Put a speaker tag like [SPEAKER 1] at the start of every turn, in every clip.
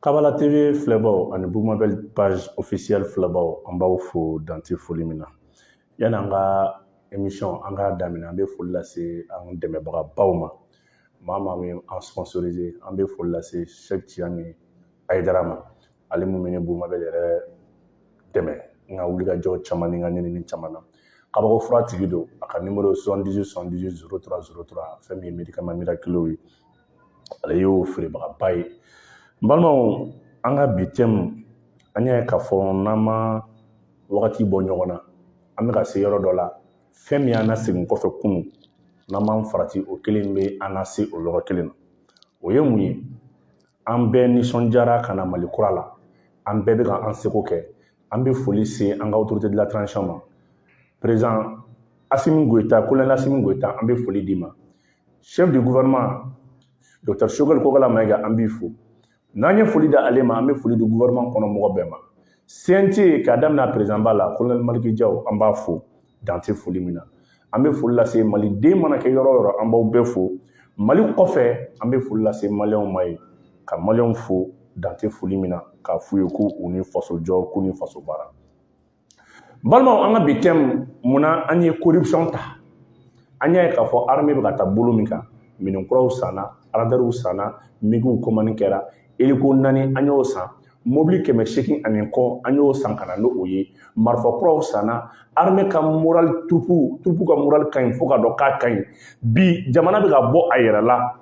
[SPEAKER 1] Kabala TV filɛbaaw ani Bumabɛli page officielle filɛbaaw an b'aw fo dan tɛ foli min na yani an ka émission an k'a daminɛ an bɛ foli lase an dɛmɛbagabaw ma maa maa min an sponsorisé an bɛ foli lase Sɛki Tijani Ayidara ma ale min bɛ ne Bumabɛli yɛrɛ dɛmɛ n ka wulikajɔ caman ni n ka ɲinini caman na kabako fura tigi don a ka nimoro ye 78 78 03 03 fɛn min ye médicament miraculeux ye ale y'o feerebagaba ye n balimaw an ka bi tɛmu an y'a ye k'a fɔ n'an ma wagati bɔ ɲɔgɔn na an bɛ ka se yɔrɔ dɔ la fɛn min y'an lasegin kɔfɛ kunun n'an m'an farati o kelen bɛ an lase o yɔrɔ kelen na o ye mun ye an bɛɛ nisɔndiyara ka na mali kura la an bɛɛ bɛ ka an seko kɛ an bɛ foli se an ka autorité de la transition ma président asimi goyita kolonɛli asimi goyita an bɛ foli d'i ma chef du gouvernement Dr Sogɛli Kokala Mayiga an b'i fo n'an ye foli da ale ma an bɛ foli di gouvernement kɔnɔ mɔgɔ bɛɛ ma CNT k'a daminɛ a président ba la colonel Maliki Jaw an b'a fo dan tɛ foli min na an bɛ foli lase maliden mana kɛ yɔrɔ yɔrɔ an b'aw bɛɛ fo mali kɔfɛ an bɛ foli lase maliyɛnw ma yen ka maliyɛnw fo dan tɛ foli min na k'a f'u ye ko u ni faso jɔ k'u ni faso baara balimaw an ka bi tɛmu mun na an ye corruption ta an y'a ye k'a fɔ armée bɛ ka taa bolo min kan minɛn kuraw sanna aradariw sanna migiw kɔmani kɛra eliko naani an y'o san mobili kɛmɛ seegin ani kɔ an y'o san ka na n'o ye marifa kuraw sanna armée ka moral troupe troupe ka moral ka ɲi fo k'a dɔn k'a ka ɲi bi jamana bɛ ka bɔ a yɛrɛ la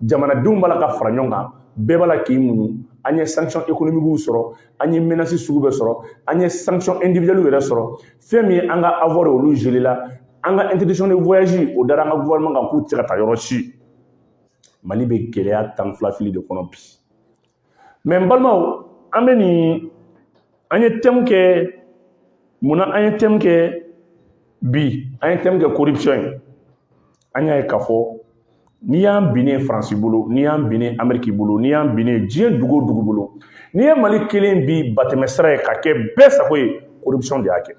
[SPEAKER 1] jamanadenw b'a la ka fara ɲɔgɔn kan bɛɛ b'a la k'i muɲu an ye sanction économique sɔrɔ an ye menace sugu bɛɛ sɔrɔ an ye sanction individuelle yɛrɛ sɔrɔ fɛn min ye an ka avoir olu gelé la an ka interdiction de voyage o dara an ka gouvernement kan k'u tɛ se ka taa yɔrɔ si mali bɛ gɛlɛya tan filafili de kɔnɔ bi mais n balimaw an bɛ nin an ye tɛmu kɛ munna an ye tɛmu kɛ bi an ye tɛmu kɛ corruption ye an y'a ye k'a fɔ n'i y'an binnen faransi bolo n'i y'an binnen ameriki bolo n'i y'an binnen diɲɛ dugu o dugu bolo n'i ye mali kɛlen bi batɛmɛ sira ye ka kɛ bɛɛ sago ye corruption de y'a kɛ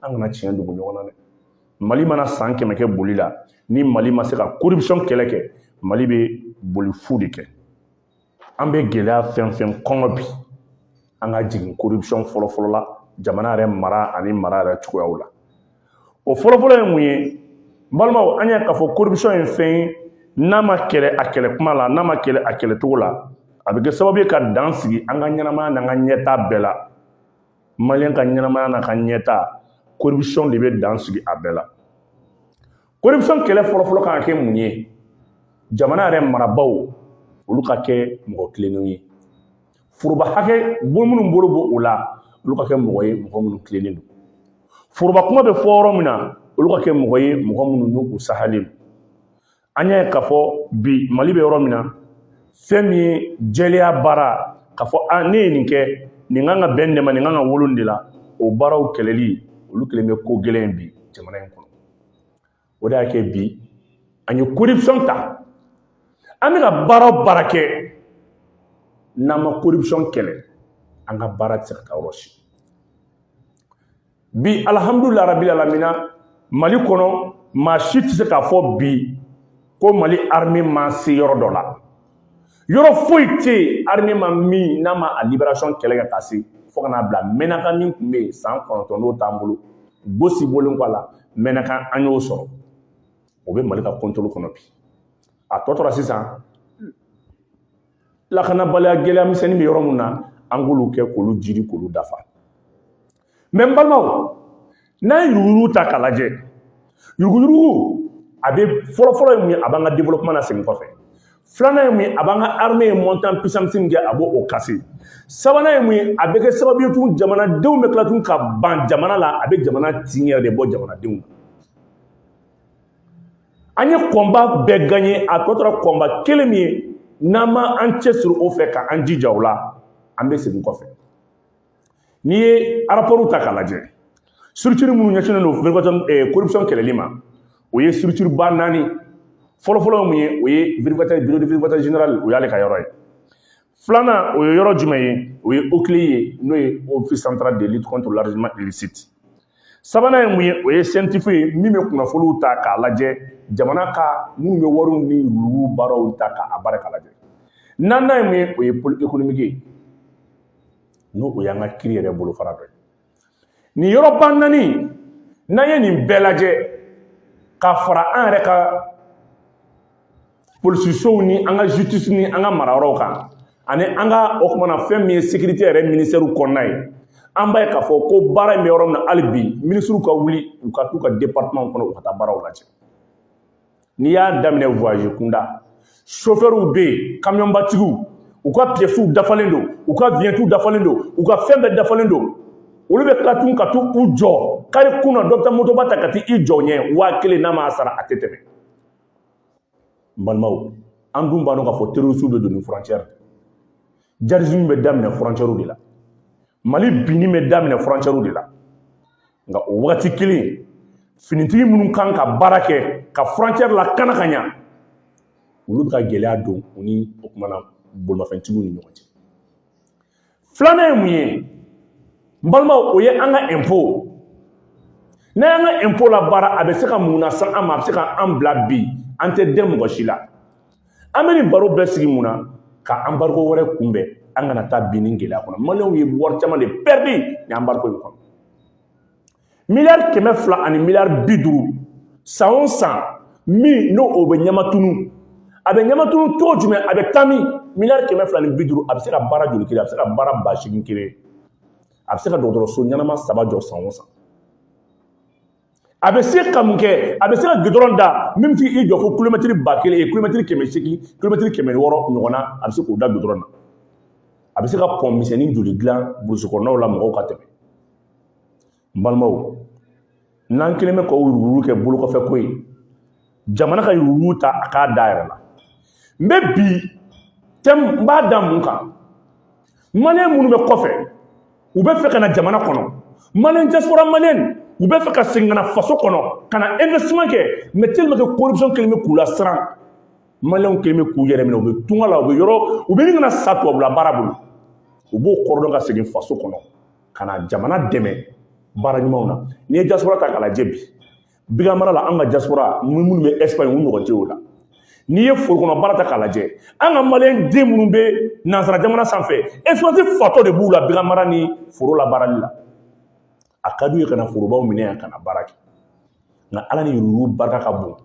[SPEAKER 1] an kana tiɲɛ dogo ɲɔgɔn na dɛ mali mana san kɛmɛ kɛ boli la ni mali ma se ka corruption kɛlɛ kɛ mali bɛ boli fu de kɛ an bɛ gɛlɛya fɛn fɛn kɔnɔ bi an ka jigin corruption fɔlɔfɔlɔ la jamana yɛrɛ mara ani mara yɛrɛ cogoyaw la o fɔlɔfɔlɔ ye mun ye balimaw an y'a k'a fɔ corruption ye fɛn ye n'a ma kɛlɛ a kɛlɛ kuma la n'a ma kɛlɛ a kɛlɛ cogo la a bɛ kɛ sababu ye ka dan sigi an ka ɲɛnamaya n'an ka ɲɛtaa bɛɛ la maliyɛn ka ɲɛnamaya n'a ka ɲɛtaa corruption de bɛ dan sigi a bɛɛ la Corruption kɛlɛ fɔlɔfɔlɔ kan ka kɛ mun ye jamana yɛrɛ marabaaw olu ka kɛ mɔgɔ tilennenw ye foroba hakɛ bon minnu bolo b'o la olu ka kɛ mɔgɔ ye mɔgɔ minnu tilennen don foroba kuma bɛ fɔ yɔrɔ min na olu ka kɛ mɔgɔ ye mɔgɔ minnu n'u sahalen don an y'a ye k'a fɔ bi mali bɛ yɔrɔ min na fɛn min ye jɛlenya baara k'a fɔ ne ye nin kɛ nin kan ka bɛn nin de ma nin kan ka wolo nin de la o baaraw kɛlɛli olu kɛlen bɛ ko gɛlɛn bi jamana in kɔnɔ o de y'a kɛ bi an ye corruption ta an bɛ ka baara o baara kɛ n'an ma corruption kɛlɛ an ka baara tɛ se ka taa yɔrɔ si bi alihamudulila rabil alamina mali kɔnɔ maa si tɛ se k'a fɔ bi ko mali armée ma se yɔrɔ dɔ la yɔrɔ foyi tɛ yen armée ma min n'a ma a libération kɛlɛ kɛ ka se fo ka n'a bila mɛnakan min tun bɛ yen san kɔnɔntɔn n'o t'an bolo gosi bɔlen kɔ a la mɛnakan an y'o sɔrɔ o bɛ mali ka kɔntoli kɔnɔ bi a tɔ tora sisan lakanabaliya gɛlɛya misɛnnin bɛ yɔrɔ min na an k'olu kɛ k'olu jiri k'olu dafa n balimaw n'an ye yuruguyurugu ta k'a lajɛ yuruguyurugu a bɛ fɔlɔfɔlɔ ye mun ye a b'an ka développement na segin kɔfɛ filanan ye mun ye a b'an ka armée ye montée en puissance min kɛ a b'o casser sabanan ye mun ye a bɛ kɛ sababu ye tun jamanadenw bɛ tila tun ka ban jamana la a bɛ jamana tin yɛrɛ de bɔ jamanadenw na an ye combat bɛɛ gagner a tɔ tora combat kelen min ye n'an ma an cɛsiri o fɛ ka an jija o la an bɛ segin kɔfɛ n'i ye rapportw ta k'a lajɛ structure minnu ɲɛsinnen don corruption eh, kɛlɛli ma o ye structure ba naani fɔlɔfɔlɔ ye mun ye o ye bureau du vérificateur général o y'ale ka yɔrɔ ye filanan o ye yɔrɔ jumɛn ye o ye OCLEI ye n'o ye office central de lutte contre l'enrichissement illicite sabanan ye mun ye o ye CENTIF ye min bɛ kunnafoniw ta k'a lajɛ jamana ka minnu bɛ wariw ni yurugu baaraw ta k'a baara k'a lajɛ naaninan ye mun ye o ye pôle économique ye n'o y'an ka kiri yɛrɛ bolofara dɔ ye nin yɔrɔba naani n'an ye nin bɛɛ lajɛ ka fara an yɛrɛ ka polisisow ni an ka justice ni an ka marayɔrɔw kan ani an ka o kumana fɛn min ye sécurité yɛrɛ ministère kɔnɔna ye an b'a ye k'a fɔ ko baara in bɛ yɔrɔ min na hali bi minisiriw ka wuli u ka t'u ka département kɔnɔ u ka taa baaraw lajɛ n'i y'a daminɛ voyage kunda sofɛriw bɛ yen kamiyɔnbatigiw u ka piyɛsiw dafalen don u ka viɲɛtiw dafalen don u ka fɛn bɛɛ dafalen don olu bɛ tila tun ka t'u jɔ kare kun na dɔ bɛ taa motoba ta ka t'i jɔ ɲɛ waa kelen n'a m'a sara a tɛ tɛmɛ n balimaw an dun b'a dɔn k'a fɔ terorisiw bɛ don ni frontière djihadisme bɛ daminɛ frontièrew de la mali binni bɛ daminɛ frontièrew de la nka o wagati kelen finitigi minnu kan ka baara kɛ ka frontière lakana ka ɲa olu bɛ ka gɛlɛya don u ni o kumana bolimafɛntigiw ni ɲɔgɔn cɛ filanan ye mun ye n balimaw o ye an ka ɛnpo n'an y'an ka ɛnpo labaara a bɛ se ka mun lase an ma a bɛ se ka an bila bi an tɛ dɛn mɔgɔ si la an bɛ nin baro bɛɛ sigi mun na ka anbariko wɛrɛ kunbɛn an kana taa bin nin gɛlɛya kɔnɔ maliyɛnw ye wari caman de pɛridi nin anbariko in kɔnɔ miliyari kɛmɛ fila ani miliyari bi duuru san o san min n'o o bɛ ɲamatunu a bɛ ɲamatunu cogo jumɛn a bɛ taa min miliyari kɛmɛ fila ni bi duuru a bɛ se ka baara joli créer a bɛ se ka baara ba seegin créer a bɛ se ka dɔgɔtɔrɔso ɲɛnama saba jɔ san o san a bɛ se ka mun kɛ a bɛ se ka gidɔrɔn da min bɛ se k'i jɔ fo kulomɛtiri ba kelen ye kulomɛtiri kɛmɛ seegin kulomɛtiri kɛmɛ wɔɔrɔ ɲɔgɔn na a bɛ se k'o da gidɔrɔn na a bɛ se ka pɔn misɛnnin joli dilan burusi kɔnɔnaw la mɔgɔw ka tɛmɛ n balimaw n'an kɛlen bɛ ka yuruguyurugu kɛ bolokɔfɛ ko ye jamana ka yuruguyurugu ta a k'a da yɛrɛ la n bɛ bi tɛmu n b'a da mun kan maliyɛn minnu bɛ kɔfɛ u bɛ fɛ ka na jamana kɔnɔ maliyɛn diaspora maliyɛn u bɛ fɛ ka segin ka na faso kɔnɔ ka na investissement kɛ mais tellement que corruption kɛlen bɛ k'u lasiran maliyɛnw kɛlen bɛ k'u yɛrɛ minɛ u bɛ tunga la u bɛ yɔrɔ u bɛ ɲini ka na sa tubabula baara bolo u b'o kɔrɔdɔn ka segin faso kɔnɔ ka na jamana dɛmɛ baara ɲumanw na n'i ye diaspora ta k'a lajɛ bi baganmara la an ka diaspora minnu bɛ ɛsipaɲi u ɲɔgɔn tɛ o la n'i ye foro kɔnɔ baara ta k'a lajɛ an ka maliyɛn den minnu bɛ nansara jamana sanfɛ expérience fatɔ de b'u la baganmara ni foro labaarali la a ka d'u ye ka na forobaw minɛ yan ka na baara kɛ nka ala ni yuruguyurugu barika ka bon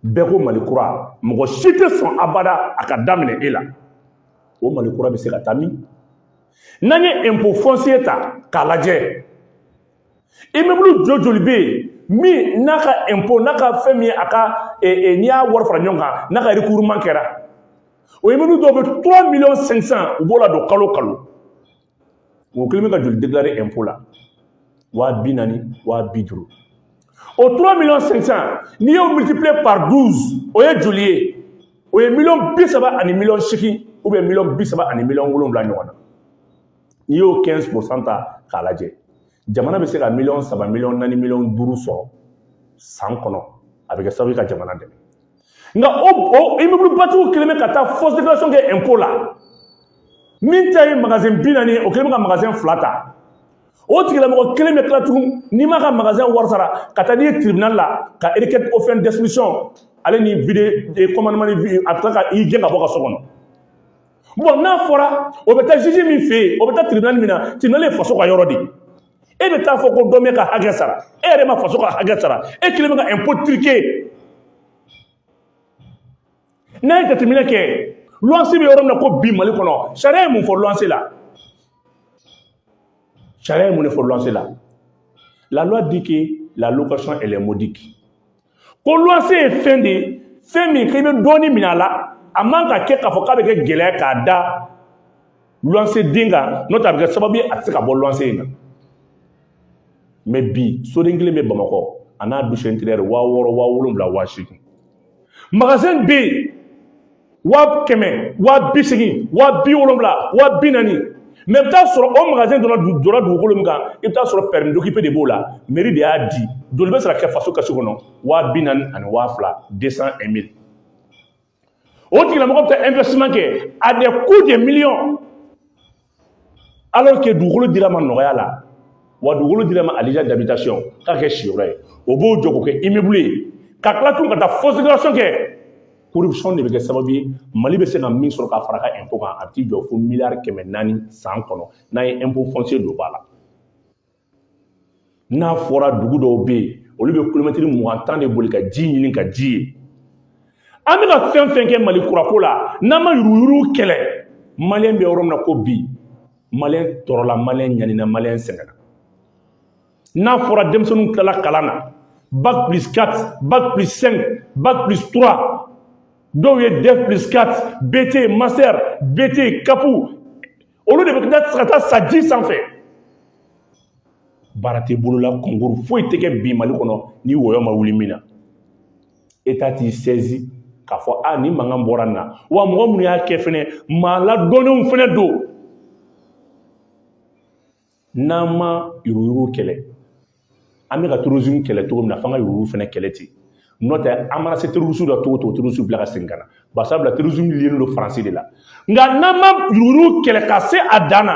[SPEAKER 1] bɛɛ ko mali kura mɔgɔ si tɛ sɔn abada a ka daminɛ e la o mali kura bɛ se ka taa min n'an ye impôt foncier ta k'a lajɛ immeuble jɔ joli bɛ yen min n'a ka impôt n'a ka fɛn min ye a ka n'i y'a wari fara ɲɔgɔn kan n'a ka recouvrement kɛra o immeuble dɔw bɛ 3 millions 500 u b'o ladon kalo kalo o kɛlen bɛ ka joli déclarer impôt la waa bi naani waa bi duuru o 3 millions 500 n'i y'o multiplier par 12 o ye joli ye o ye miliyɔn bi saba ani miliyɔn seegin ou bien miliyɔn bi saba ani miliyɔn wolonwula ɲɔgɔn na n'i y'o quinze pour cent ta k'a lajɛ jamana bɛ se ka miliyɔn saba miliyɔn naani miliyɔn duuru sɔrɔ san kɔnɔ a bɛ kɛ sababu ye ka jamana dɛmɛ nka o o immeublebatigiw kɛlen bɛ ka taa fausse déclaration kɛ impôt la min ta ye magasin bi naani ye o kɛlen bɛ ka magasin fila ta o tigilamɔgɔ kelen bɛ tila tugun n'i m'a ka magasin wari sara ka taa n'i ye tribunal la ka requête aux fins d'expulsion ale ni vide commandement a bɛ tila ka i gɛn ka bɔ ka so kɔnɔ Bon n'a fɔra o bɛ taa juge min fɛ yen o bɛ taa tribunal min na tribunal ye faso ka yɔrɔ de ye e bɛ taa fɔ ko dɔ m'e ka hakɛ sara e yɛrɛ ma faso ka hakɛ sara e kɛlen bɛ ka impôt truquer n'a ye jateminɛ kɛ luwanse bɛ yɔrɔ min na ko bi mali kɔnɔ sariya ye mun fɔ luwanse la sariya ye mun de fɔ luwanse la la loi dit que la location elle est modique ko luwanse ye fɛn de ye fɛn min k'i bɛ dɔɔnin minɛ a la a man ka kɛ k'a fɔ k'a bɛ kɛ gɛlɛya k'a da luwanse den kan n'o tɛ a bɛ kɛ sababu ye a tɛ se ka bɔ luwanse in na mais bi soden kelen bɛ bamakɔ a n'a douche intérieure waa wɔɔrɔ waa wolonwula waa seegin magasin bɛ yen waa kɛmɛ waa bi seegin waa bi wolonwula waa bi naani mais i bɛ taa sɔrɔ o magasin dɔ jɔra dugukolo min kan i bɛ taa sɔrɔ permis d'occuper de b'o la mairie de y'a di joli bɛ sara ka kɛ faso kɛsi kɔnɔ waa bi naani ani waa fila deux cent un mille o tigilamɔgɔ bɛ taa investissement kɛ à des coûts de millions alors que dugukolo dira a ma nɔgɔya la wa dugukolo dira a ma à usage d'habitation k'a kɛ siyɔrɔ ye o b'o jɔ k'o kɛ immeuble ye ka tila tun ka taa fausse déclaration kɛ corruption de bɛ kɛ sababu ye mali bɛ se ka min sɔrɔ k'a fara a ka impôt kan a bɛ t'i jɔ fo miliyari kɛmɛ naani san kɔnɔ n'an ye impôt foncier don ba la n'a fɔra dugu dɔw bɛ yen olu bɛ kilomɛtiri mugan tan de boli ka ji ɲini ka ji ye an bɛ ka fɛn fɛn kɛ mali kura ko la n'an ma yuruguyurugu kɛlɛ maliyɛn bɛ yɔrɔ min na ko bi maliyɛn tɔɔrɔla maliyɛn ɲanina maliyɛn sɛgɛnna n'a fɔra denmisɛnninw tilala kalan na bac plus 4 bac plus 5 bac plus 3 dɔw ye def plus 4 bt master bt cap olu de bɛ ka taa ka taa sa ji sanfɛ baara tɛ bolo la concours foyi tɛ kɛ bi mali kɔnɔ ni wɔyɔ ma wuli min na état t'i saisi k'a fɔ a ni mankan bɔra nin na wa mɔgɔ minnu y'a kɛ fɛnɛ maa ladɔnnenw fɛnɛ don N'an ma yuruguyurugu kɛlɛ an bɛ ka terrorisme kɛlɛ cogo min na f'an ka yuruguyurugu fɛnɛ kɛlɛ ten n'o tɛ an mana se terroristew la cogo o cogo terroriste bɛ tila ka segin ka na bari sabula terrorisme liélen don Faransi de la nka n'an ma yuruguyurugu kɛlɛ ka se a dan na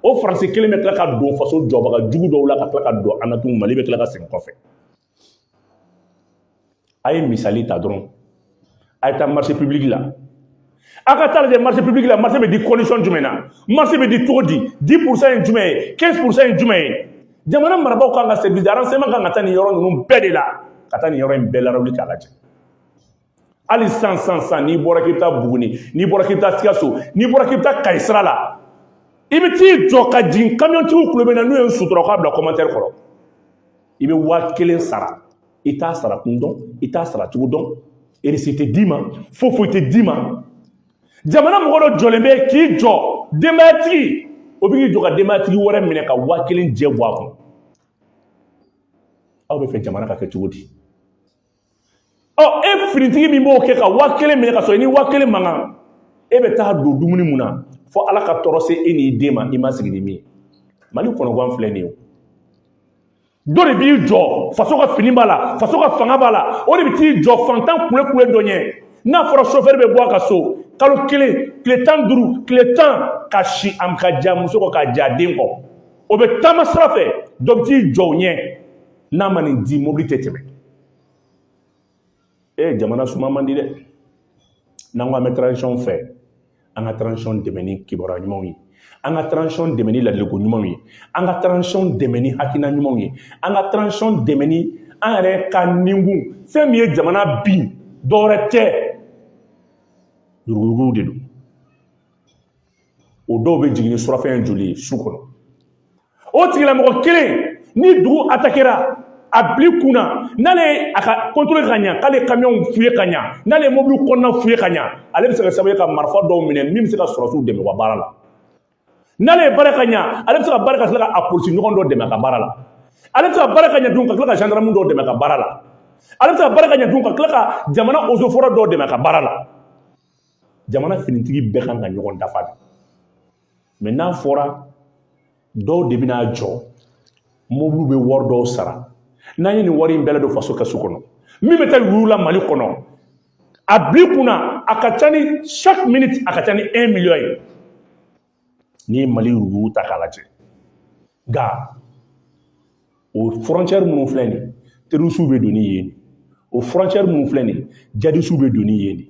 [SPEAKER 1] o Faransi kelen bɛ tila ka don faso jɔbaga jugu dɔw la ka tila ka don an na tugun Mali bɛ tila ka segin kɔfɛ a ye misali ta dɔrɔn a ye taa marché public la a ka taa lajɛ marché public la marché bɛ di condition jumɛn na marché bɛ di cogo di 10 pourcent ye jumɛn ye 15 pourcent ye jumɛn ye jamana marabaaw kan ka service de renseignement kan ka taa nin yɔrɔ ninnu bɛɛ de la ka taa nin yɔrɔ in bɛɛ lawuli k'a lajɛ hali sisan sisan n'i bɔra k'i bɛ taa buguni n'i bɔra k'i bɛ taa sikaso n'i bɔra k'i bɛ taa kayi sira la i bɛ t'i jɔ ka jigin kamiyɔntigiw tulo bɛ n na n'u ye sutura k'a bila kɔmantɛri kɔrɔ i bɛ waa kelen sara i t'a sara kun dɔn i t'a sara cogo dɔn erisi tɛ d'i ma foyi foyi tɛ d'i ma jamana mɔgɔ dɔ jɔlen bɛ k'i jɔ denbayatigi o bɛ k'i jɔ ka denbayatigi wɛrɛ minɛ ka waa kelen jɛ bɔ a kun aw b'a fɛ jamana ka kɛ cogo di ɔ e finitigi min b'o kɛ ka waa kelen minɛ ka sɔrɔ i ni waa kelen man kan e bɛ t'a don dumuni mun na fo ala ka tɔɔrɔ se e n'i den ma i ma sigi ni min ye mali kɔnɔgan filɛ nin ye dɔ de b'i jɔ faso ka fini b'a la faso ka fanga b'a la o de bɛ t'i jɔ fantan kule kule dɔ ɲɛ n'a fɔra sofɛri bɛ bɔ a ka so kalo kelen tile tan duuru tile tan ka si a ka j'a muso kɔ ka j'a den kɔ o bɛ taama sira fɛ dɔ bɛ t'i jɔ o ɲɛ n'a ma nin di mobili tɛ tɛmɛ e jamana suma man di dɛ n'an ko an bɛ transition fɛ an ka transition dɛmɛ ni kibaruya ɲumanw ye an ka transition dɛmɛ ni ladiliko ɲumanw ye an ka transition dɛmɛ ni hakilina ɲumanw ye an ka transition dɛmɛ ni an yɛrɛ ka ninkun fɛn min ye jamana bin dɔwɛrɛ tɛ yuruguyurugu de don o dɔw bɛ jigin ni surafɛn joli ye su kɔnɔ o tigilamɔgɔ kelen ni dugu atakera a bil'i kun na n'ale ye a ka kɔntɔrɔli ka ɲa k'ale kamiyɔnw fuye ka ɲa n'ale ye mobili kɔnɔna fuye ka ɲa ale bɛ se ka sababu ye ka marifa dɔw minɛ min bɛ se ka sɔrɔsiw dɛmɛ u ka baara la n'ale ye baara ka ɲa ale bɛ se ka baara ka tila ka a polisi ɲɔgɔn dɔ dɛmɛ a ka baara la ale bɛ se ka baara ka ɲa dun ka tila ka zandaramu dɔ dɛmɛ a ka baara la ale bɛ se ka baara ka ɲa dun ka tila ka jamana ozofɔrɛ dɔ dɛmɛ a ka baara la jamana finitigi bɛɛ kan ka ɲɔgɔn dafa de mɛ n'a fɔra dɔw de bɛna jɔ mobiliw bɛ wari dɔw sara n'an ye nin wari in bɛɛ ladon faso kɛsu kɔnɔ min bɛ taa yurugu la mali kɔnɔ a bil'i kunna a ka ca ni chaque minute a ka ca ni 1 million ye n'i ye mali yurugu ta k'a lajɛ nka o fɔrɔncɛri minnu filɛ nin terorisiw bɛ don ni yen o fɔrɔncɛri minnu filɛ nin jihadisiw bɛ don ni yen de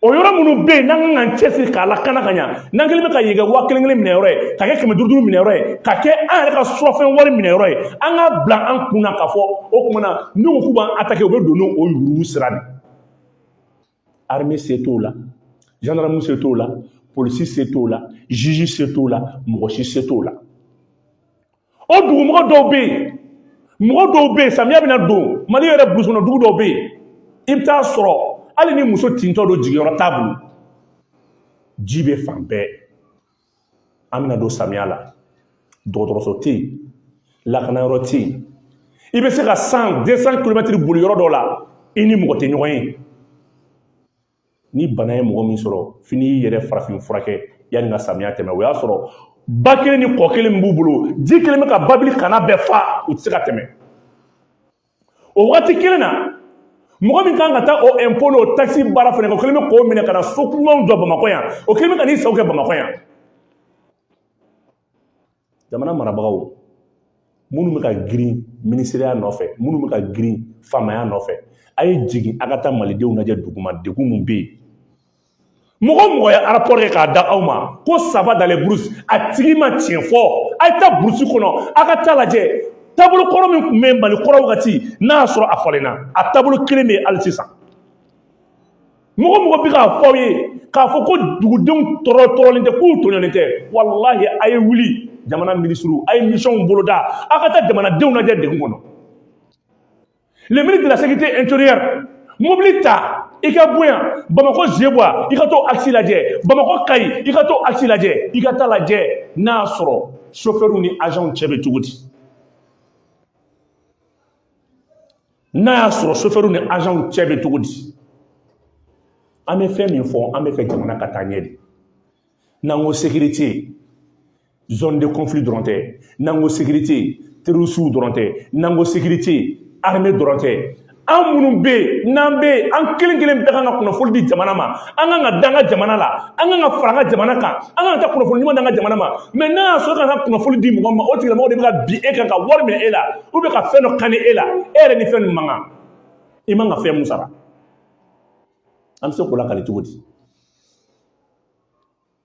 [SPEAKER 1] o yɔrɔ minnu bɛ yen n'an kan k'an cɛsiri k'a lakana ka ɲa n'an kɛlen bɛ ka yen kɛ waa kelen kelen minɛ yɔrɔ ye ka kɛ kɛmɛ duuru duuru minɛ yɔrɔ ye ka kɛ an yɛrɛ ka surafɛn wari minɛ yɔrɔ ye an k'a bila an kun na k'a fɔ o tuma na n'u ko k'u b'an atake u bɛ don n'o yurugu sira de ye armée se t'o la gendarme se t'o la polisi se t'o la juge se t'o la mɔgɔ si se t'o la o dugumɔgɔ dɔw bɛ yen mɔgɔ dɔw bɛ yen samiya bɛna don mali yɛrɛ burusi kɔnɔ dugu dɔw bɛ yen i bɛ t'a sɔrɔ hali ni muso tintɔ don jigiyɔrɔ t'a bolo ji bɛ fan bɛɛ an bɛna don samiya la dɔgɔtɔrɔso tɛ yen lakanayɔrɔ tɛ yen i bɛ se ka 100 200 kilomɛtiri boli yɔrɔ dɔ la i ni mɔgɔ tɛ ɲɔgɔn ye ni bana ye mɔgɔ min sɔrɔ f'i n'i yɛrɛ farafin furakɛ yanni ka samiya tɛmɛ o y'a sɔrɔ ba kelen ni kɔ kelen min b'u bolo ji kelen bɛ ka babili kanna bɛɛ fa u tɛ se ka tɛmɛ o waati kelen na mɔgɔ min kan ka taa o impôt n'o taxe baara fana kɛ o kelen bɛ k'o minɛ ka na so kumaw jɔ bamakɔ yan o kelen bɛ ka n'i sago kɛ bamakɔ yan jamana marabagaw minnu bɛ ka girin minisiriya nɔfɛ minnu bɛ ka girin faamaya nɔfɛ a ye jigin a ka taa malidenw lajɛ duguma degun min bɛ yen mɔgɔ o mɔgɔ ye arapɔri kɛ k'a da aw ma ko ça va dans les brousses a tigi ma tiɲɛ fɔ a ye taa burusi kɔnɔ a ka taa lajɛ taabolo kɔrɔ min tun bɛ mali kɔrɔ wagati n'a y'a sɔrɔ a falenna a taabolo kelen bɛ yen hali sisan mɔgɔ o mɔgɔ bɛ k'a fɔ aw ye k'a fɔ ko dugudenw tɔɔrɔ tɔɔrɔlen tɛ k'u tɔɲɔnnen tɛ walahi a ye wuli jamana minisiriw a ye misiyɔnw boloda a ka taa jamanadenw lajɛ degun kɔnɔ le ministre de la sécurité intérieure mobili ta i ka bɔ yan bamakɔ zeguwa i ka t'o axe lajɛ bamakɔ kayi i ka t'o axe lajɛ i ka taa lajɛ n'a y'a sɔrɔ sofɛriw ni azanw cɛ bɛ cogo di n'a y'a sɔrɔ sofɛriw ni azanw cɛ bɛ cogo di an bɛ fɛn min fɔ an bɛ fɛ jamana ka taa ɲɛ de n'an ko sécurité zone de conflit dɔrɔn tɛ n'an ko sécurité terrorisiw dɔrɔn tɛ n'an ko sécurité armée dɔrɔn tɛ an minnu bɛ yen n'an bɛ yen an kelen kelen bɛɛ kan ka kunnafoni di jamana ma an kan ka da an ka jamana la an kan ka fara an ka jamana kan an kan ka taa kunnafoni ɲuman di an ka jamana ma mais n'a y'a sɔrɔ e ka kan ka kunnafoni di mɔgɔ ma o tigilamɔgɔ de bɛ ka bin e kan ka wari minɛ e la ou bien ka fɛn dɔ kani e la e yɛrɛ ni fɛn min man kan i man ka fɛn min sara an bɛ se k'o lakali cogo di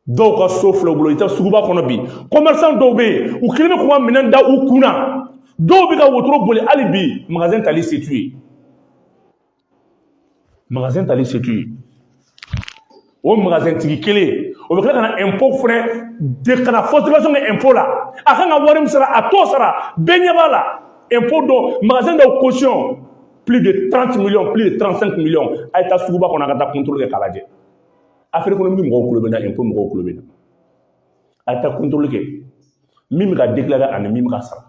[SPEAKER 1] dɔw ka so filɛ u bolo i taa suguba kɔnɔ bi commerçant dɔw bɛ yen u kelen bɛ k'u ka minɛn da u kun na dɔw bɛ ka wotoro boli hali bi magasin tali se t'u ye magasin tali se t'u ye o magasin tigi kelen o bɛ tila ka na impôt fɛnɛ de ka négociation kɛ impôt la a kan ka wari min sara a t'o sara bɛɛ ɲɛ b'a la impôt dɔ magasin dɔw caution plus de 30 millions plus de 35 millions a ye taa suguba kɔnɔ a ka taa contrôle kɛ k'a lajɛ affaire économique mɔgɔw kulo bɛ n na impôt mɔgɔw kulo bɛ n na a ye taa contrôle kɛ min bɛ ka déclarer ani min bɛ ka sara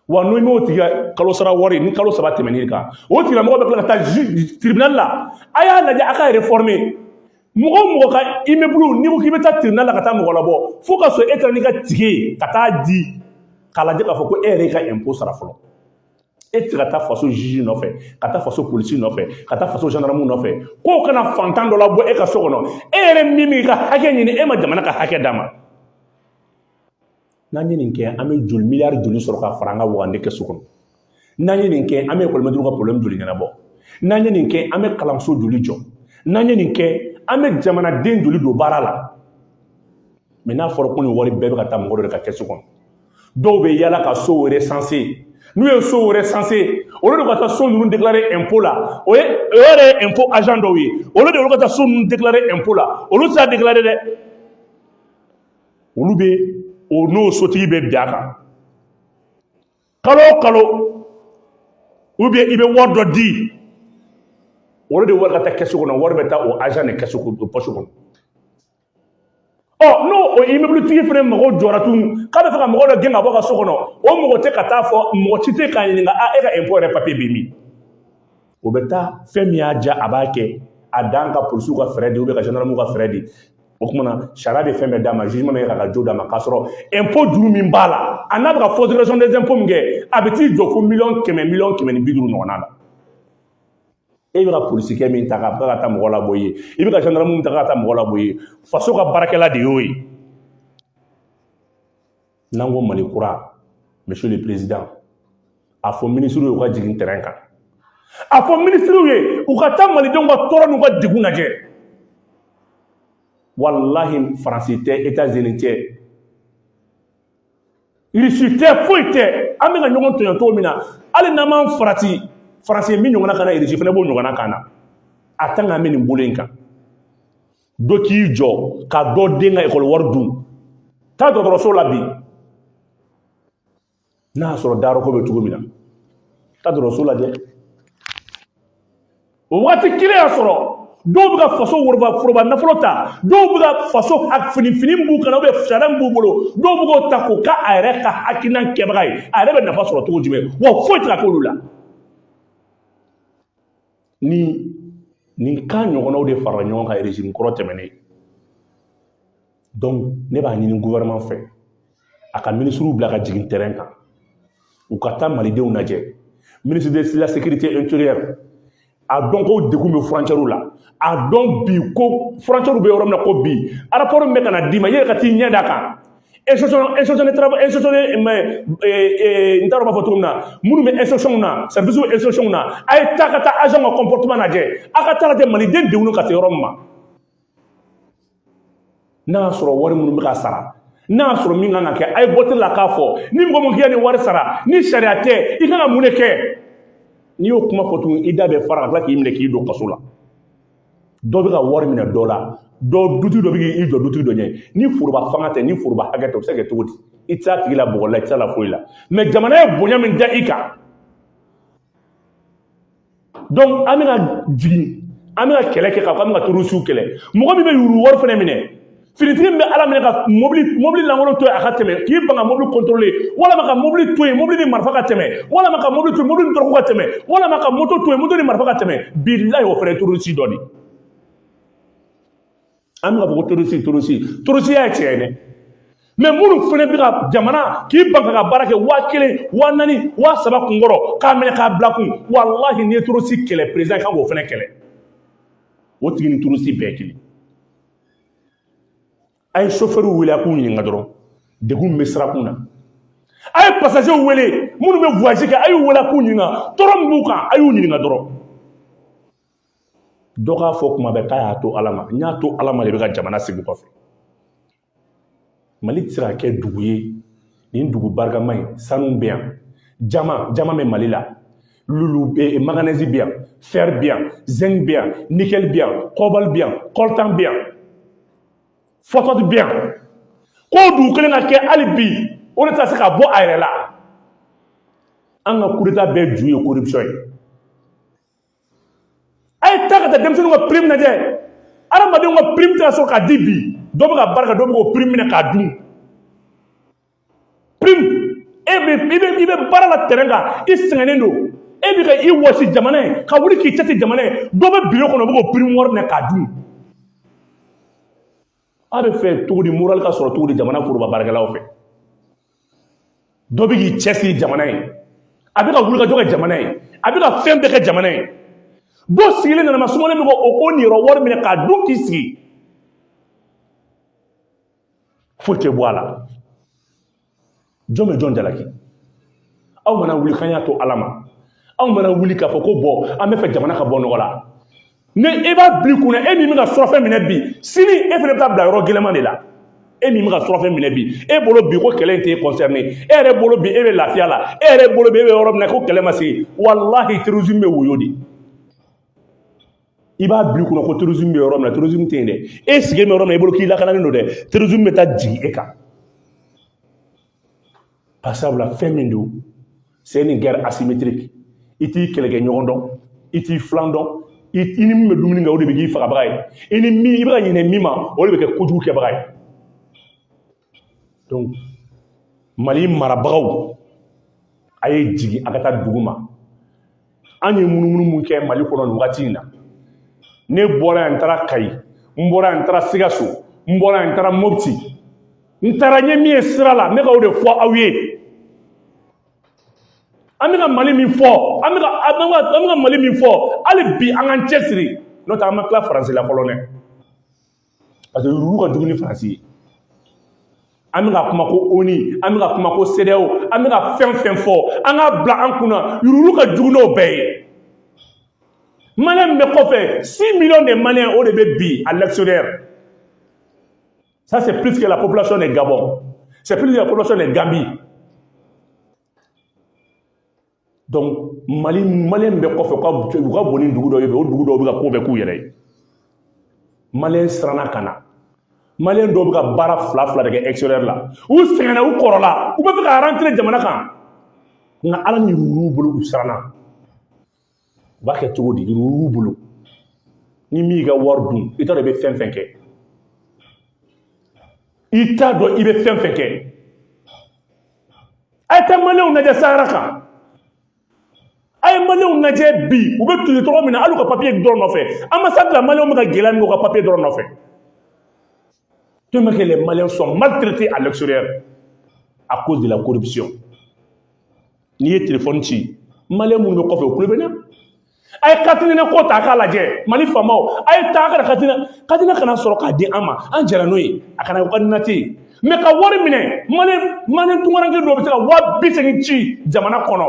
[SPEAKER 1] wa n'i m'o tigi ka kalo sara wari ni kalo saba tɛmɛn'i kan o tigilamɔgɔ bɛ tila ka taa tribunal la a y'a lajɛ a ka réformer mɔgɔ o mɔgɔ ka immeuble n'i ko k'i bɛ taa tribunal la ka taa mɔgɔ labɔ fo ka sɔrɔ e taara n'i ka tike ye ka taa di k'a lajɛ k'a fɔ ko e yɛrɛ y'i ka impôt sara fɔlɔ e tɛ se ka taa faso juge nɔfɛ ka taa faso polisi nɔfɛ ka taa faso gendarme nɔfɛ k'o kana fantan dɔ labɔ e ka so kɔnɔ e yɛrɛ min b'i ka hakɛ ɲini e ma jamana ka hakɛ d'a ma n'an ye nin kɛ an bɛ joli miliyari joli sɔrɔ ka fara an ka wagande kɛso kɔnɔ n'an ye nin kɛ an bɛ ekɔlimɛtiriw ka porobilɛmu joli ɲɛnabɔ n'an ye nin kɛ an bɛ kalanso joli jɔ n'an ye nin kɛ an bɛ jamanaden joli don baara la mɛ n'a fɔra ko nin wari bɛɛ bɛ ka taa mɔgɔ dɔ de ka kɛso kɔnɔ dɔw bɛ yala ka sow recensé n'u ye sow recensé au lieu de u ka taa so ninnu déclaré impôt la o ye o yɛrɛ ye impôt agent dɔw ye au lieu de olu ka taa so ninnu déclaré impôt la olu tɛ se k'a déclaré dɛ olu bɛ o n'o sotigi bɛ bɛn a kan kalo o kalo ou bien i bɛ wari dɔ di au lieu de wari ka taa kɛsu kɔnɔ wari bɛ taa o agent de kɛsu poche kɔnɔ ɔ n'o o immeubletigi fana mago jɔra tun k'a b'a fɛ ka mɔgɔ dɔ gɛn ka bɔ ka so kɔnɔ o mɔgɔ tɛ ka t'a fɔ mɔgɔ si tɛ k'a ɲininka a e ka impôt yɛrɛ papier bɛ min o bɛ taa fɛn min y'a diya a b'a kɛ a dan ka polisiw ka frais di ou bien ka jandarmuw ka frais di o tuma na sariya bɛ fɛn bɛɛ d'a ma jugement bɛ kɛ ka jo d'a ma k'a sɔrɔ impôt juru min b'a la a n'a bɛ ka fausse déclaration des impôts min kɛ a bɛ t'i jɔ fo miliyɔn kɛmɛ miliyɔn kɛmɛ ni bi duuru ɲɔgɔnna la e bɛ ka polisikɛ min ta k'a ka taa mɔgɔ labɔ i ye i bɛ ka jandarmu min ta k'a ka taa mɔgɔ labɔ i ye faso ka baarakɛla de y'o ye n'an ko mali kura monsieur le président a fɔ minisiriw ye u ka jigin terrain kan a fɔ minisiriw ye u ka taa malidenw ka tɔɔrɔ n'u ka degun lajɛ walahi faransi tɛ etats unis tɛ irisi tɛ foyi tɛ an bɛka ɲɔgɔn tɔɲɔ cogo min na hali n'an m'an farati faransi min ɲɔgɔnna k'an na irisi fana b'o ɲɔgɔnna k'an na en tant qu'an bɛ nin bolo in kan dɔ k'i jɔ ka dɔ den ka ekɔli wari dun taa dɔgɔtɔrɔso la bi n'a y'a sɔrɔ dayɔrɔko bɛ cogo min na taa dɔgɔtɔrɔso lajɛ o waati kelen y'a sɔrɔ dɔw bɛ ka faso wo foroba nafolo ta dɔw bɛ ka faso fini fini min b'u kan na ubiyɛn sariya min b'u bolo dɔw bɛ k'o ta k'o k'a a yɛrɛ ka hakilinan kɛbaga ye a yɛrɛ bɛ nafa sɔrɔ cogo jumɛn wa foyi tɛ ka k'olu la ni nin cas ɲɔgɔnnaw de farala ɲɔgɔn kan régime kɔrɔ tɛmɛnen ne b'a ɲini gouvernement fɛ a ka minisiriw bila ka jigin terrain kan u ka taa malidenw lajɛ ministre de la sécurité intérieure a dɔn ko degun bɛ furancɛriw la a dɔn bi ko furancɛriw bɛ yɔrɔ min na ko bi rapport min bɛ ka na d'i ma i yɛrɛ ka t'i ɲɛ d'a kan institution institution de travail institution de mais n t'a dɔn n b'a fɔ cogo min na minnu bɛ institution na service institution na a ye taa ka taa agent ka comportement lajɛ a ka t'a lajɛ maliden degunnen ka se yɔrɔ min ma n'a y'a sɔrɔ wari minnu bɛ ka sara n'a y'a sɔrɔ min kan ka kɛ a ye bɔtiri la k'a fɔ ni mɔgɔ min k'i ni wari sara ni sariya tɛ i kan ka mun de kɛ n'i y'o kuma fɔ tuguni i da bɛ fara ka tila k'i minɛ k'i don kaso la dɔ bɛ ka wari minɛ dɔ la dɔ dutigi dɔ bɛ k'i jɔ dutigi dɔ ɲɛ ni foroba fanga tɛ ni foroba hakɛ tɛ o bɛ se ka kɛ cogo di i tɛ se a tigilamɔgɔ la i tɛ se a la foyi la mɛ jamana ye bonya min da i kan donc an bɛna jigin an bɛna kɛlɛ kɛ k'a fɔ an bɛ ka torosiw kɛlɛ mɔgɔ min bɛ yurugu wari fana minɛ finitigi min bɛ ala minɛ ka mobili mobili lankolon to yen a ka tɛmɛ k'i ban ka mobili kɔntorolen walima ka mobili to yen mobili ni marifa ka tɛmɛ walima ka mobili to yen mobili ni dɔrɔgu ka tɛmɛ walima ka moto to yen moto ni marifa ka tɛmɛ bilayi o fana ye torosi dɔ de ye an bɛ ka fɔ ko torosi torosi torosi y'a tiɲɛ mɛ minnu fana bɛ ka jamana k'i ban ka baara kɛ waa kelen waa naani waa saba kun kɔrɔ k'a minɛ k'a bila i kun walahi n'i ye torosi kɛlɛ perezidan kan k'o fana kɛlɛ o tigi ni torosi bɛɛ kelen a ye sofɛriw wele a k'u ɲininka dɔrɔn degun min bɛ sirakun na a ye pasajew wele minnu bɛ voyage kɛ a y'u wele a k'u ɲininka tɔɔrɔ min b'u kan a y'u ɲininka dɔrɔn dɔ k'a fɔ kuma bɛɛ k'a y'a to ala ma n y'a to ala ma de bɛ ka jamana sigi kɔfɛ mali tɛ se ka kɛ dugu ye nin dugu barikama ye sanu bɛ yan jaman jaman bɛ mali la lulu eh, maganɛzi bɛ yan fɛri bɛ yan zɛngi bɛ yan nikɛli bɛ yan kɔbali bɛ yan kɔltan bɛ yan fɔsifati bɛ yan k'o dugu kelen ka kɛ hali bi o de tɛ se ka bɔ a yɛrɛ la an ka kudeta bɛɛ ju ye corruption ye a ye taa ka taa denmisɛnninw ka prime lajɛ aramɛdenw ka prime tɛ ka sɔrɔ ka di bi dɔ bɛ ka baara kɛ dɔ bɛ k'o prime minɛ k'a dun prime e bɛ i bɛ i bɛ baara la tɛrɛn kan i sɛgɛnnen don e bɛ ka i wɔsi jamana ye ka wuli k'i cɛsiri jamana ye dɔ bɛ biro kɔnɔ o bɛ k'o prime wari minɛ k'a dun a b'a fɛ cogo di moral ka sɔrɔ cogo di jamana foroba baarakɛlaw fɛ dɔ bɛ k'i cɛsiri jamana ye a bɛ ka wulikajɔ kɛ jamana ye a bɛ ka fɛn bɛɛ kɛ jamana ye dɔ sigilen nɛɛma sumalen bɛ k'o ka niyɔrɔ wari minɛ k'a dun k'i sigi foyi tɛ bɔ a la jɔn bɛ jɔn jalaki aw mana wuli k'an y'a to ala ma aw mana wuli k'a fɔ ko bɔ an b'a fɛ jamana ka bɔ nɔgɔ la ni e b'a bila i kun na e min bɛ ka surafɛn minɛ bi sini e fana bɛ taa bila yɔrɔ gɛlɛman de la e min bɛ ka surafɛn minɛ bi e bolo bi ko kɛlɛ in t'e concerné e yɛrɛ bolo bi e bɛ lafiya la e yɛrɛ bolo bi e bɛ yɔrɔ min na ko kɛlɛ ma se yen walahi terrorisme bɛ woyo de i b'a bila i kun na ko terrorisme bɛ yɔrɔ min na terrorisme tɛ yen dɛ e sigilen bɛ yɔrɔ min na i bolo k'i lakanalen don dɛ terrorisme bɛ taa jigin e kan Parce sabula fɛn min don c'est une guerre asymétrique i t'i kɛlɛkɛ ɲɔgɔn dɔn i t'i filan dɔn i i ni min bɛ dumuni kɛ o de bɛ k'i fagabaga ye i ni min i bɛ ka ɲinɛ min ma o de bɛ kɛ kojugu kɛbaga ye donc mali marabagaw a ye jigin a ka taa dugu ma an ye munumunu mun kɛ mali kɔnɔ nin wagati in na ne bɔra yan n taara kayi n bɔra yan n taara sikaso n bɔra yan n taara mopti n taara n ye min ye sira la n bɛ ka o de fɔ aw ye an bɛ ka mali min fɔ an bɛ ka an bɛ ka mali min fɔ hali bi an k'an cɛsiri n'o tɛ an ma tila faransi la fɔlɔ dɛ parce que yuruguyurugu ka jugu ni faransi ye an bɛ ka kuma ko oni an bɛ ka kuma ko sedeyaw an bɛ ka fɛn fɛn fɔ an ka bila an kunna yuruguyurugu ka jugu n'o bɛɛ ye maliyɛn min bɛ kɔfɛ six millions de maliyɛn o de bɛ bi à l'extérieur ça c'est plus que la population de Gabon c'est plus que la population de Gambie donc mali maliyɛn min bɛ kɔfɛ u ka u ka bon ni dugu dɔ ye o dugu dɔw bɛ ka ko bɛɛ k'u yɛrɛ ye maliyɛn siranna ka na maliyɛn dɔw bɛ ka baara fila fila de kɛ extérieur la u sɛgɛnna u kɔrɔla u bɛ fɛ ka rentrer jamana kan nka ala ni yuruguyurugu bolo u siranna u b'a kɛ cogo di yuruguyurugu bolo ni min y'i ka wari dun i t'a dɔn i bɛ fɛn fɛn kɛ i t'a dɔn i bɛ fɛn fɛn kɛ a ye taa maliyɛnw lajɛ sahara kan a ye maliyɛnw lajɛ bi u bɛ tile cogo min na hali u ka papiye dɔrɔn nɔfɛ ambassade la maliyɛnw bɛ ka gɛlɛya min kɛ u ka papiye dɔrɔn nɔfɛ tellement que les Maliens sont maltraités à l'extérieur à cause de la corruption n'i ye telefɔni ci maliyɛn minnu bɛ kɔfɛ o kule bɛ na a ye carte nina ko ta a k'a lajɛ mali faamaw a ye taa ka na carte nina kana sɔrɔ k'a di an ma an jɛra n'o ye a kana ka nati ye mɛ ka wari minɛ mali mali tunkaranke dɔ bɛ se ka waa bi segin ci jamana kɔnɔ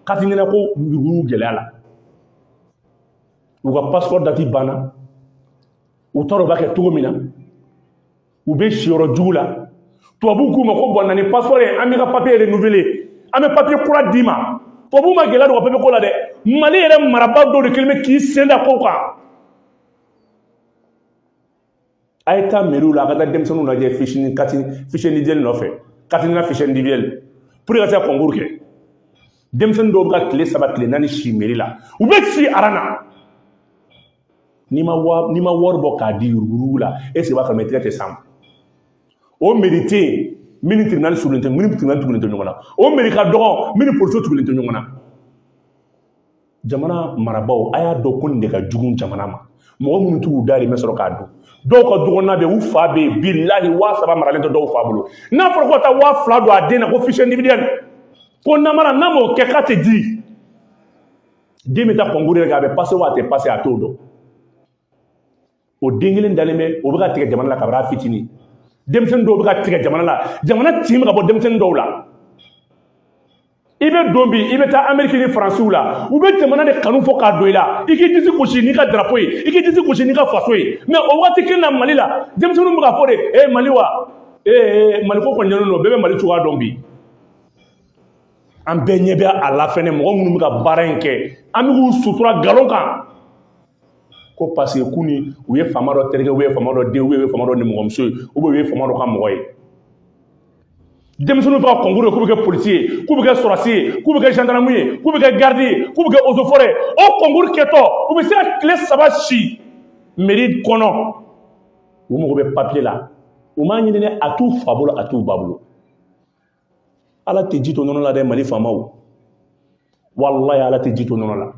[SPEAKER 1] carte nina ko yurugu gɛlɛya la u ka passeport dati banna u t'a dɔn u b'a kɛ cogo min na u bɛ si yɔrɔ jugu la tubabuw k'u ma ko bon na ni passeport ye an b'i ka papiye renouveler an bɛ papiye kura d'i ma tubabuw ma gɛlɛya don u ka papiye ko la dɛ mali yɛrɛ marabaa dɔw de kɛlen bɛ k'i sen da kow kan a ye taa meri la a ka taa denmisɛnninw lajɛ fiche carte fiche individuelle nɔfɛ carte nina fiche individuelle pour que ka se ka concours kɛ denmisɛnnin dɔw bɛ ka tile saba tile naani si meri la u bɛ si aran na n'i ma wari n'i ma wari bɔ k'a di yurugu la ɛsike i b'a sɔrɔ tigɛ tɛ san o meri tɛ yen min ni tribunali surulen tɛ min ni tribunali tugulen tɛ ɲɔgɔn na o meri ka dɔgɔ min ni polisiw tugulen tɛ ɲɔgɔn na jamana marabaaw a y'a dɔn ko nin de ka jugu jamana ma mɔgɔ minnu t'u dahirimɛ sɔrɔ k'a dun dɔw ka dɔgɔnna bɛ u fa bɛ yen bilahi waa saba maralen tɛ dɔw fa bolo n'a fɔra ko ka taa waa fila don a den na ko fiche individuelle ko namara n'a m'o kɛ k'a tɛ di den bɛ taa kɔnkuru yɛrɛ kɛ a bɛ pase wa a tɛ pase a t'o dɔn o den kelen dalen bɛ o bɛ ka tigɛ jamana la kabini a fitinin denmisɛnnin dɔw bɛ ka tigɛ jamana la jamana tin bɛ ka bɔ denmisɛnnin dɔw la i bɛ don bi i bɛ taa ameriki ni faransiw la u bɛ jamana de kanu fɔ k'a don i la i k'i disi gosi n'i ka darapo ye i k'i disi gosi n'i ka faso ye mɛ o waati kelen na mali la denmisɛnninw bɛ k'a fɔ de e mali wa ee maliko kɔni ɲɛnen don bɛɛ bɛ mali cogoya dɔn bi an bɛɛ ɲɛ bɛ a la fɛnɛ mɔgɔ minnu bɛ ka baara in kɛ an bɛ k'u sutura nkalon kan ko paseke k'u ni u ye faama dɔ terikɛ u ye faama dɔ den u ye faama dɔ nimɔgɔmuso ye u bɛ u ye faama dɔ ka mɔgɔ ye denmisɛnninw bɛ ka kɔnkuru kɛ k'u bɛ kɛ polisi ye k'u bɛ kɛ sɔrɔdasi ye k'u bɛ kɛ zandaramu ye k'u bɛ kɛ garidi ye k'u bɛ kɛ ozefɔrɛ ye o kɔnkuru kɛtɔ u bɛ se ka tile saba si meri kɔnɔ u mago bɛ papiye la u m'a ɲini a t'u fa bolo a t'u ba bolo ala tɛ ji to nɔnɔ la dɛ mali faamaw walayi ala tɛ ji to nɔnɔ la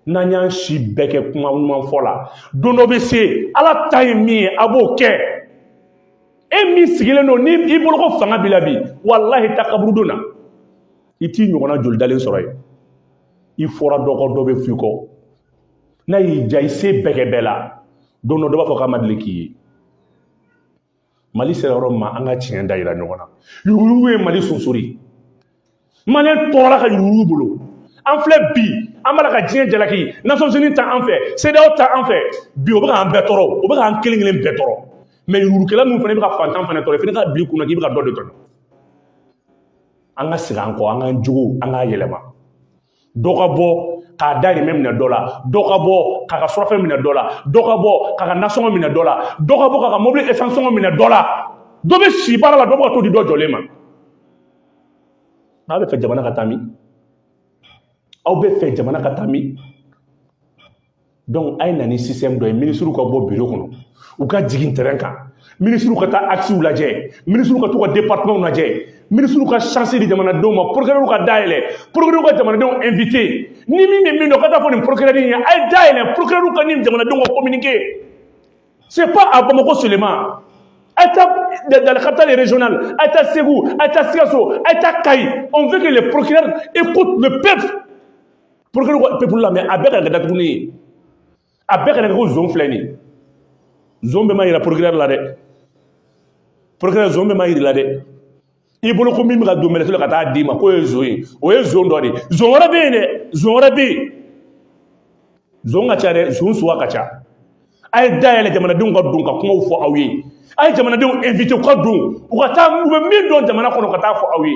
[SPEAKER 1] n'an y'an si bɛɛ kɛ kuma ɲuman fɔ la don dɔ bɛ se ala ta ye min ye a b'o kɛ e min sigilen don ni i bolo ko fanga b'i la bi walahi taa kaburudon na i t'i ɲɔgɔnna joli dalen sɔrɔ yen i fɔra dɔ kɔ dɔ bɛ f'i kɔ n'a y'i diya i se bɛɛ kɛ bɛɛ la don dɔ dɔ b'a fɔ k'a ma deli k'i ye mali sera yɔrɔ ma an ka tiɲɛ da yira ɲɔgɔn na yuruguyurugu ye mali sonsori maliyɛn tɔɔrɔla ka yuruguyurugu bolo an filɛ bi an b'a la ka diɲɛ jalaki nasɔnsini ta an fɛ sedeyawo ta an fɛ bi o bɛ k'an bɛɛ tɔɔrɔ o bɛ k'an kelen kelen bɛɛ tɔɔrɔ mɛ yuruguyurugukɛla ninnu fana bɛ ka fantan fana tɔɔrɔ fana k'a bila i kun na k'i bɛ ka dɔ de tɔɔrɔ an ka segin an kɔ an k'an jogo an k'a yɛlɛma dɔ ka bɔ k'a dahirimɛ minɛ dɔ la dɔ ka bɔ k'a ka surafɛn minɛ dɔ la dɔ ka bɔ k'a ka nasɔngɔ minɛ dɔ la dɔ ka bɔ k'a ka mobili esansi sɔngɔ minɛ dɔ la dɔ bɛ si baara la dɔ bɛ ka to di dɔ jɔlen ma aw bɛ fɛ jamana ka taa min aw bɛ fɛ jamana ka taa min a ye na ni sisitɛmu dɔ ye minisiriw ka bɔ biro kɔnɔ u ka jigin tɛrɛn kan minisiriw ka taa akisiw lajɛ minisiriw ka taa u ka departemanw lajɛ minisiriw ka sansi di jamanadenw ma porokɛrɛw ka da yɛlɛ porokɛrɛw ka jamanadenw invite ni min bɛ min dɔn ka taa fɔ nin porokɛrɛ in ye a ye da yɛlɛ porokɛrɛw ka ni jamanadenw ka communiquer c'est pas à Bamako seulement a ye taa dans les capitales régionales a ye taa Segu a ye taa Sikaso a ye taa Kayi on veut que les procureurs écoutent le peuple pour que ko peuple la mais a bɛɛ kana kɛ datuguni ye a bɛɛ kana kɛ ko zon filɛ nin ye zon bɛɛ ma yira procureur la dɛ procureur zon bɛɛ ma yira la dɛ i bolo ko min bɛ ka don menotte la ka taa d'i ma k'o ye zon ye o ye zon dɔ de ye zon wɛrɛ bɛ yen dɛ zon wɛrɛ bɛ yen zon ka ca dɛ zon suguya ka ca a ye dayɛlɛ jamanadenw ka don ka kumaw fɔ aw ye a ye jamanadenw invité u ka don u ka taa u bɛ min dɔn jamana kɔnɔ ka taa fɔ aw ye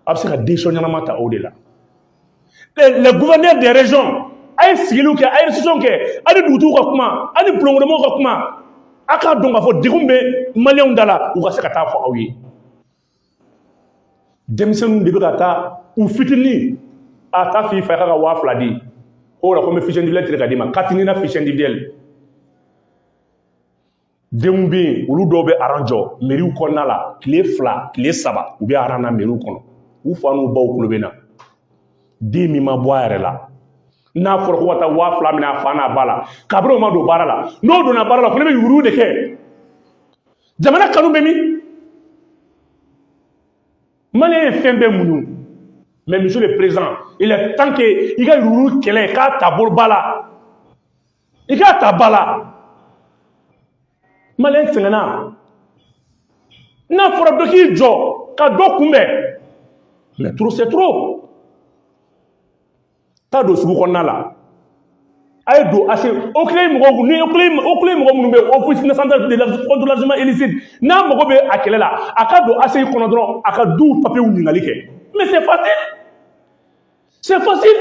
[SPEAKER 1] a bɛ se ka décision ɲɛnama ta o de la les gouverneurs des régions a ye sigiliw kɛ a ye session kɛ ani dugutigiw ka kuma ani bulonkɔnɔmɔgɔw ka kuma a k'a dɔn k'a fɔ degun bɛ maliyɛnw da la u ka se ka taa fɔ aw ye denmisɛnninw de bɛ ka taa u fitinin a taa f'i fa ye k'a ka waa fila di o la ko n bɛ fiche individuelle tigɛ ka d'i ma k'a t'i nina fiche individuelle denw bɛ yen olu dɔw bɛ aran jɔ meriw kɔnɔna la tile fila tile saba u bɛ aran na meriw kɔnɔ u fa n'u baw kulo bɛ na den min ma bɔ a yɛrɛ la n'a fɔra ko ka taa waa fila minɛ a fa n'a ba la kabini o ma don baara la n'o donna baara la o fana bɛ yurugu de kɛ jamana kanu bɛ min maliyɛn ye fɛn bɛɛ muɲu mais monsieur le président il est temps que i ka yurugu kɛlɛ k'a ta bolo ba la i k'a ta ba la maliyɛn sɛgɛnna n'a fɔra dɔ k'i jɔ ka dɔ kunbɛn mais trop c'est trop taa don sugu kɔnɔna la a ye don aci oclei mɔgɔw ni oclei mɔgɔ minnu bɛ yen office national de la contre l'argent illicite n'a mago bɛ a kɛlɛ la a ka don aci kɔnɔ dɔrɔn a ka duw papiyew ɲininkali kɛ mais c'est facile c'est facile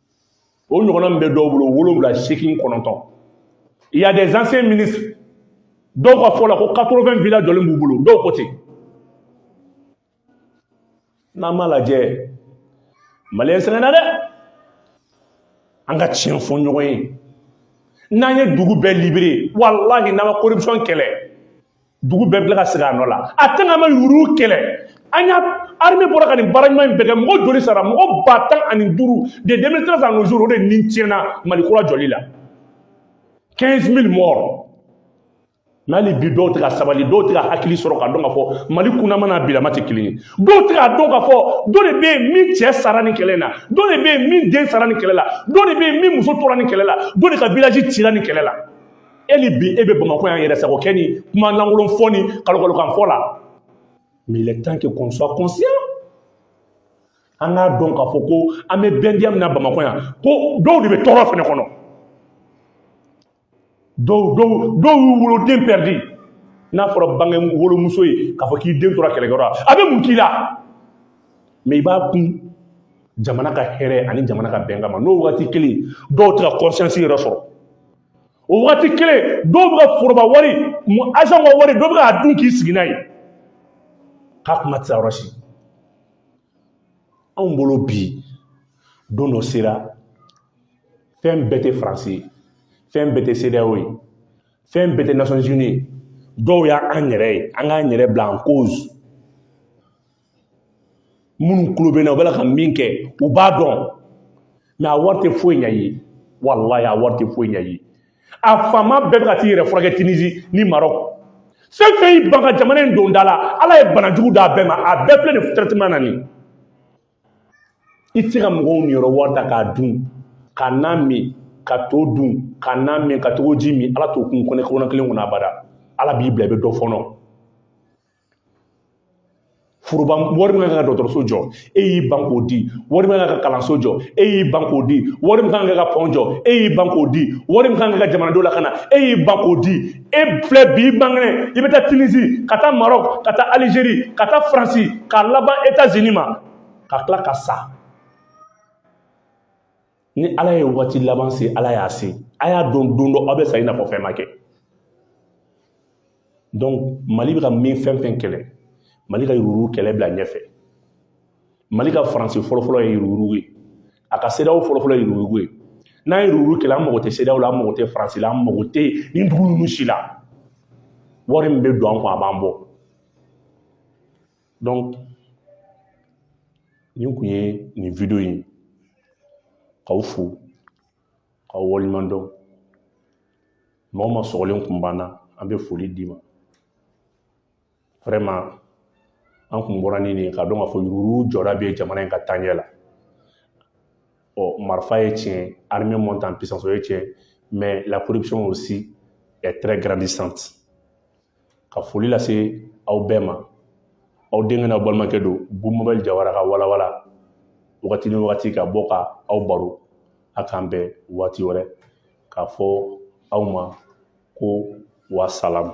[SPEAKER 1] o ɲɔgɔnna min bɛ dɔw bolo wolonwula seegin kɔnɔntɔn il y a des anciens ministres dɔw ka fɔ la ko 80 villa jɔlen b'u bolo dɔw ko ten n'an m'a lajɛ maliyɛn sɛgɛnna dɛ an ka tiɲɛ fɔ ɲɔgɔn ye n'an ye dugu bɛɛ libéré walahi n'an ma corruption kɛlɛ dugu bɛɛ bila ka segin a nɔ la a tɛ n'an ma yurugu kɛlɛ an y'a arime bɔra ka nin baara ɲuman in bɛɛ kɛ mɔgɔ joli sara mɔgɔ ba tan ani duuru de 2013 à nos jours o de ni tiɲɛna mali kura jɔli la 15 000 morts n'hali bi dɔw tɛ ka sabali dɔw tɛ ka hakili sɔrɔ k'a dɔn k'a fɔ mali kunnama n'a bilama tɛ kelen ye dɔw tɛ k'a dɔn k'a fɔ dɔ de bɛ yen min cɛ sara nin kɛlɛ na dɔ de bɛ yen min den sara nin kɛlɛ la dɔ de bɛ yen min muso tora nin kɛlɛ la dɔ de ka village cira nin kɛlɛ la e ni bi e bɛ bamakɔ yan yɛrɛ sago kɛ ni kuma lankolon fɔ ni kalokalokan fɔ la mais il est temps que qu'on soit conscient an k'a dɔn k'a fɔ ko an bɛ bɛndiya min na bamakɔ yan ko dɔw de bɛ tɔɔrɔ fɛnɛ kɔnɔ dɔw dɔw dɔw y'u woloden pɛridi n'a fɔra bange wolomuso ye k'a fɔ k'i den tora kɛlɛkɛyɔrɔ la a bɛ mun k'i la mais i b'a kun jamana ka hɛrɛ ani jamana ka bɛn kama n'o wagati kelen dɔw tɛ ka conscience yɛrɛ sɔrɔ o wagati kelen dɔw bɛ ka foroba wari agent ka wari dɔw bɛ k'a dun k'i sigi n'a ye k'a kuma tɛ se yɔrɔ si anw bolo bi don dɔ sera fɛn bɛɛ tɛ faransi ye fɛn bɛɛ tɛ cedeao ye fɛn bɛɛ tɛ nations unies ye dɔw y'an yɛrɛ ye an k'an yɛrɛ bila en cause minnu tulo bɛ n na u bɛ ka min kɛ u b'a dɔn mais a wari tɛ foyi ɲ'a ye walayi a wari tɛ foyi ɲ'a ye a faama bɛɛ bɛ ka t'i yɛrɛ furakɛ tunisie ni maroc fɛn fɛn y'i ban ka jamana in don da la ala ye banajugu d'a bɛɛ ma a bɛɛ filɛ nin traitement na nin i tɛ se ka mɔgɔw niyɔrɔ wari ta k'a dun ka na min ka to dun ka na min ka togo ji min ala t'o kun kɔnɔbara kelen kɔnɔ abada ala b'i bila i bɛ dɔ fɔnɔ foroba wari min ka kan ka dɔgɔtɔrɔso jɔ e y'i ban k'o di wari min ka kan ka kalanso jɔ e y'i ban k'o di wari min ka kan ka pɔn jɔ e y'i ban k'o di wari min ka kan ka jamanadenw lakana e y'i ban k'o di e filɛ bi i man kɛnɛ i bɛ taa tunisie ka taa maroc ka taa algérie ka taa faransi ka laban etats unis ma ka tila ka sa ni ala ye waati laban se ala y'a se a y'a dɔn don dɔ aw bɛ sa i n'a fɔ fɛn ma kɛ donc mali bɛ ka min fɛn fɛn kɛlɛ mali ka yuruguyurugu kɛlɛ bila ɲɛfɛ mali ka faransi fɔlɔfɔlɔ ye yuruguyurugu ye a ka cedeao fɔlɔfɔlɔ ye yuruguyurugu ye n'an ye yuruguyurugu kɛlɛ an mago tɛ cedeao la an mago tɛ faransi la an mago tɛ nin dugu ninnu si la wari min bɛ don an kun a b'an bɔ nin kun ye nin video in ye k'aw fo k'aw waleɲuman dɔn mɔgɔ ma sɔgɔlen kun banna an bɛ foli d'i ma vraiment an kun bɔra ni nin ye k'a dɔn k'a fɔ yuruguyurugu jɔda bɛ jamana in ka taaɲɛ la ɔ marifa ye tiɲɛ armée monte en puissance o ye tiɲɛ mais la corruption aussi est très grandissante ka foli lase aw bɛɛ ma aw denkɛ n'aw balimakɛ don bubu mabɛl jawara ka walawala wagati ni wagati ka bɔ ka aw baro a k'an bɛn waati wɛrɛ k'a fɔ aw ma ko wasalamu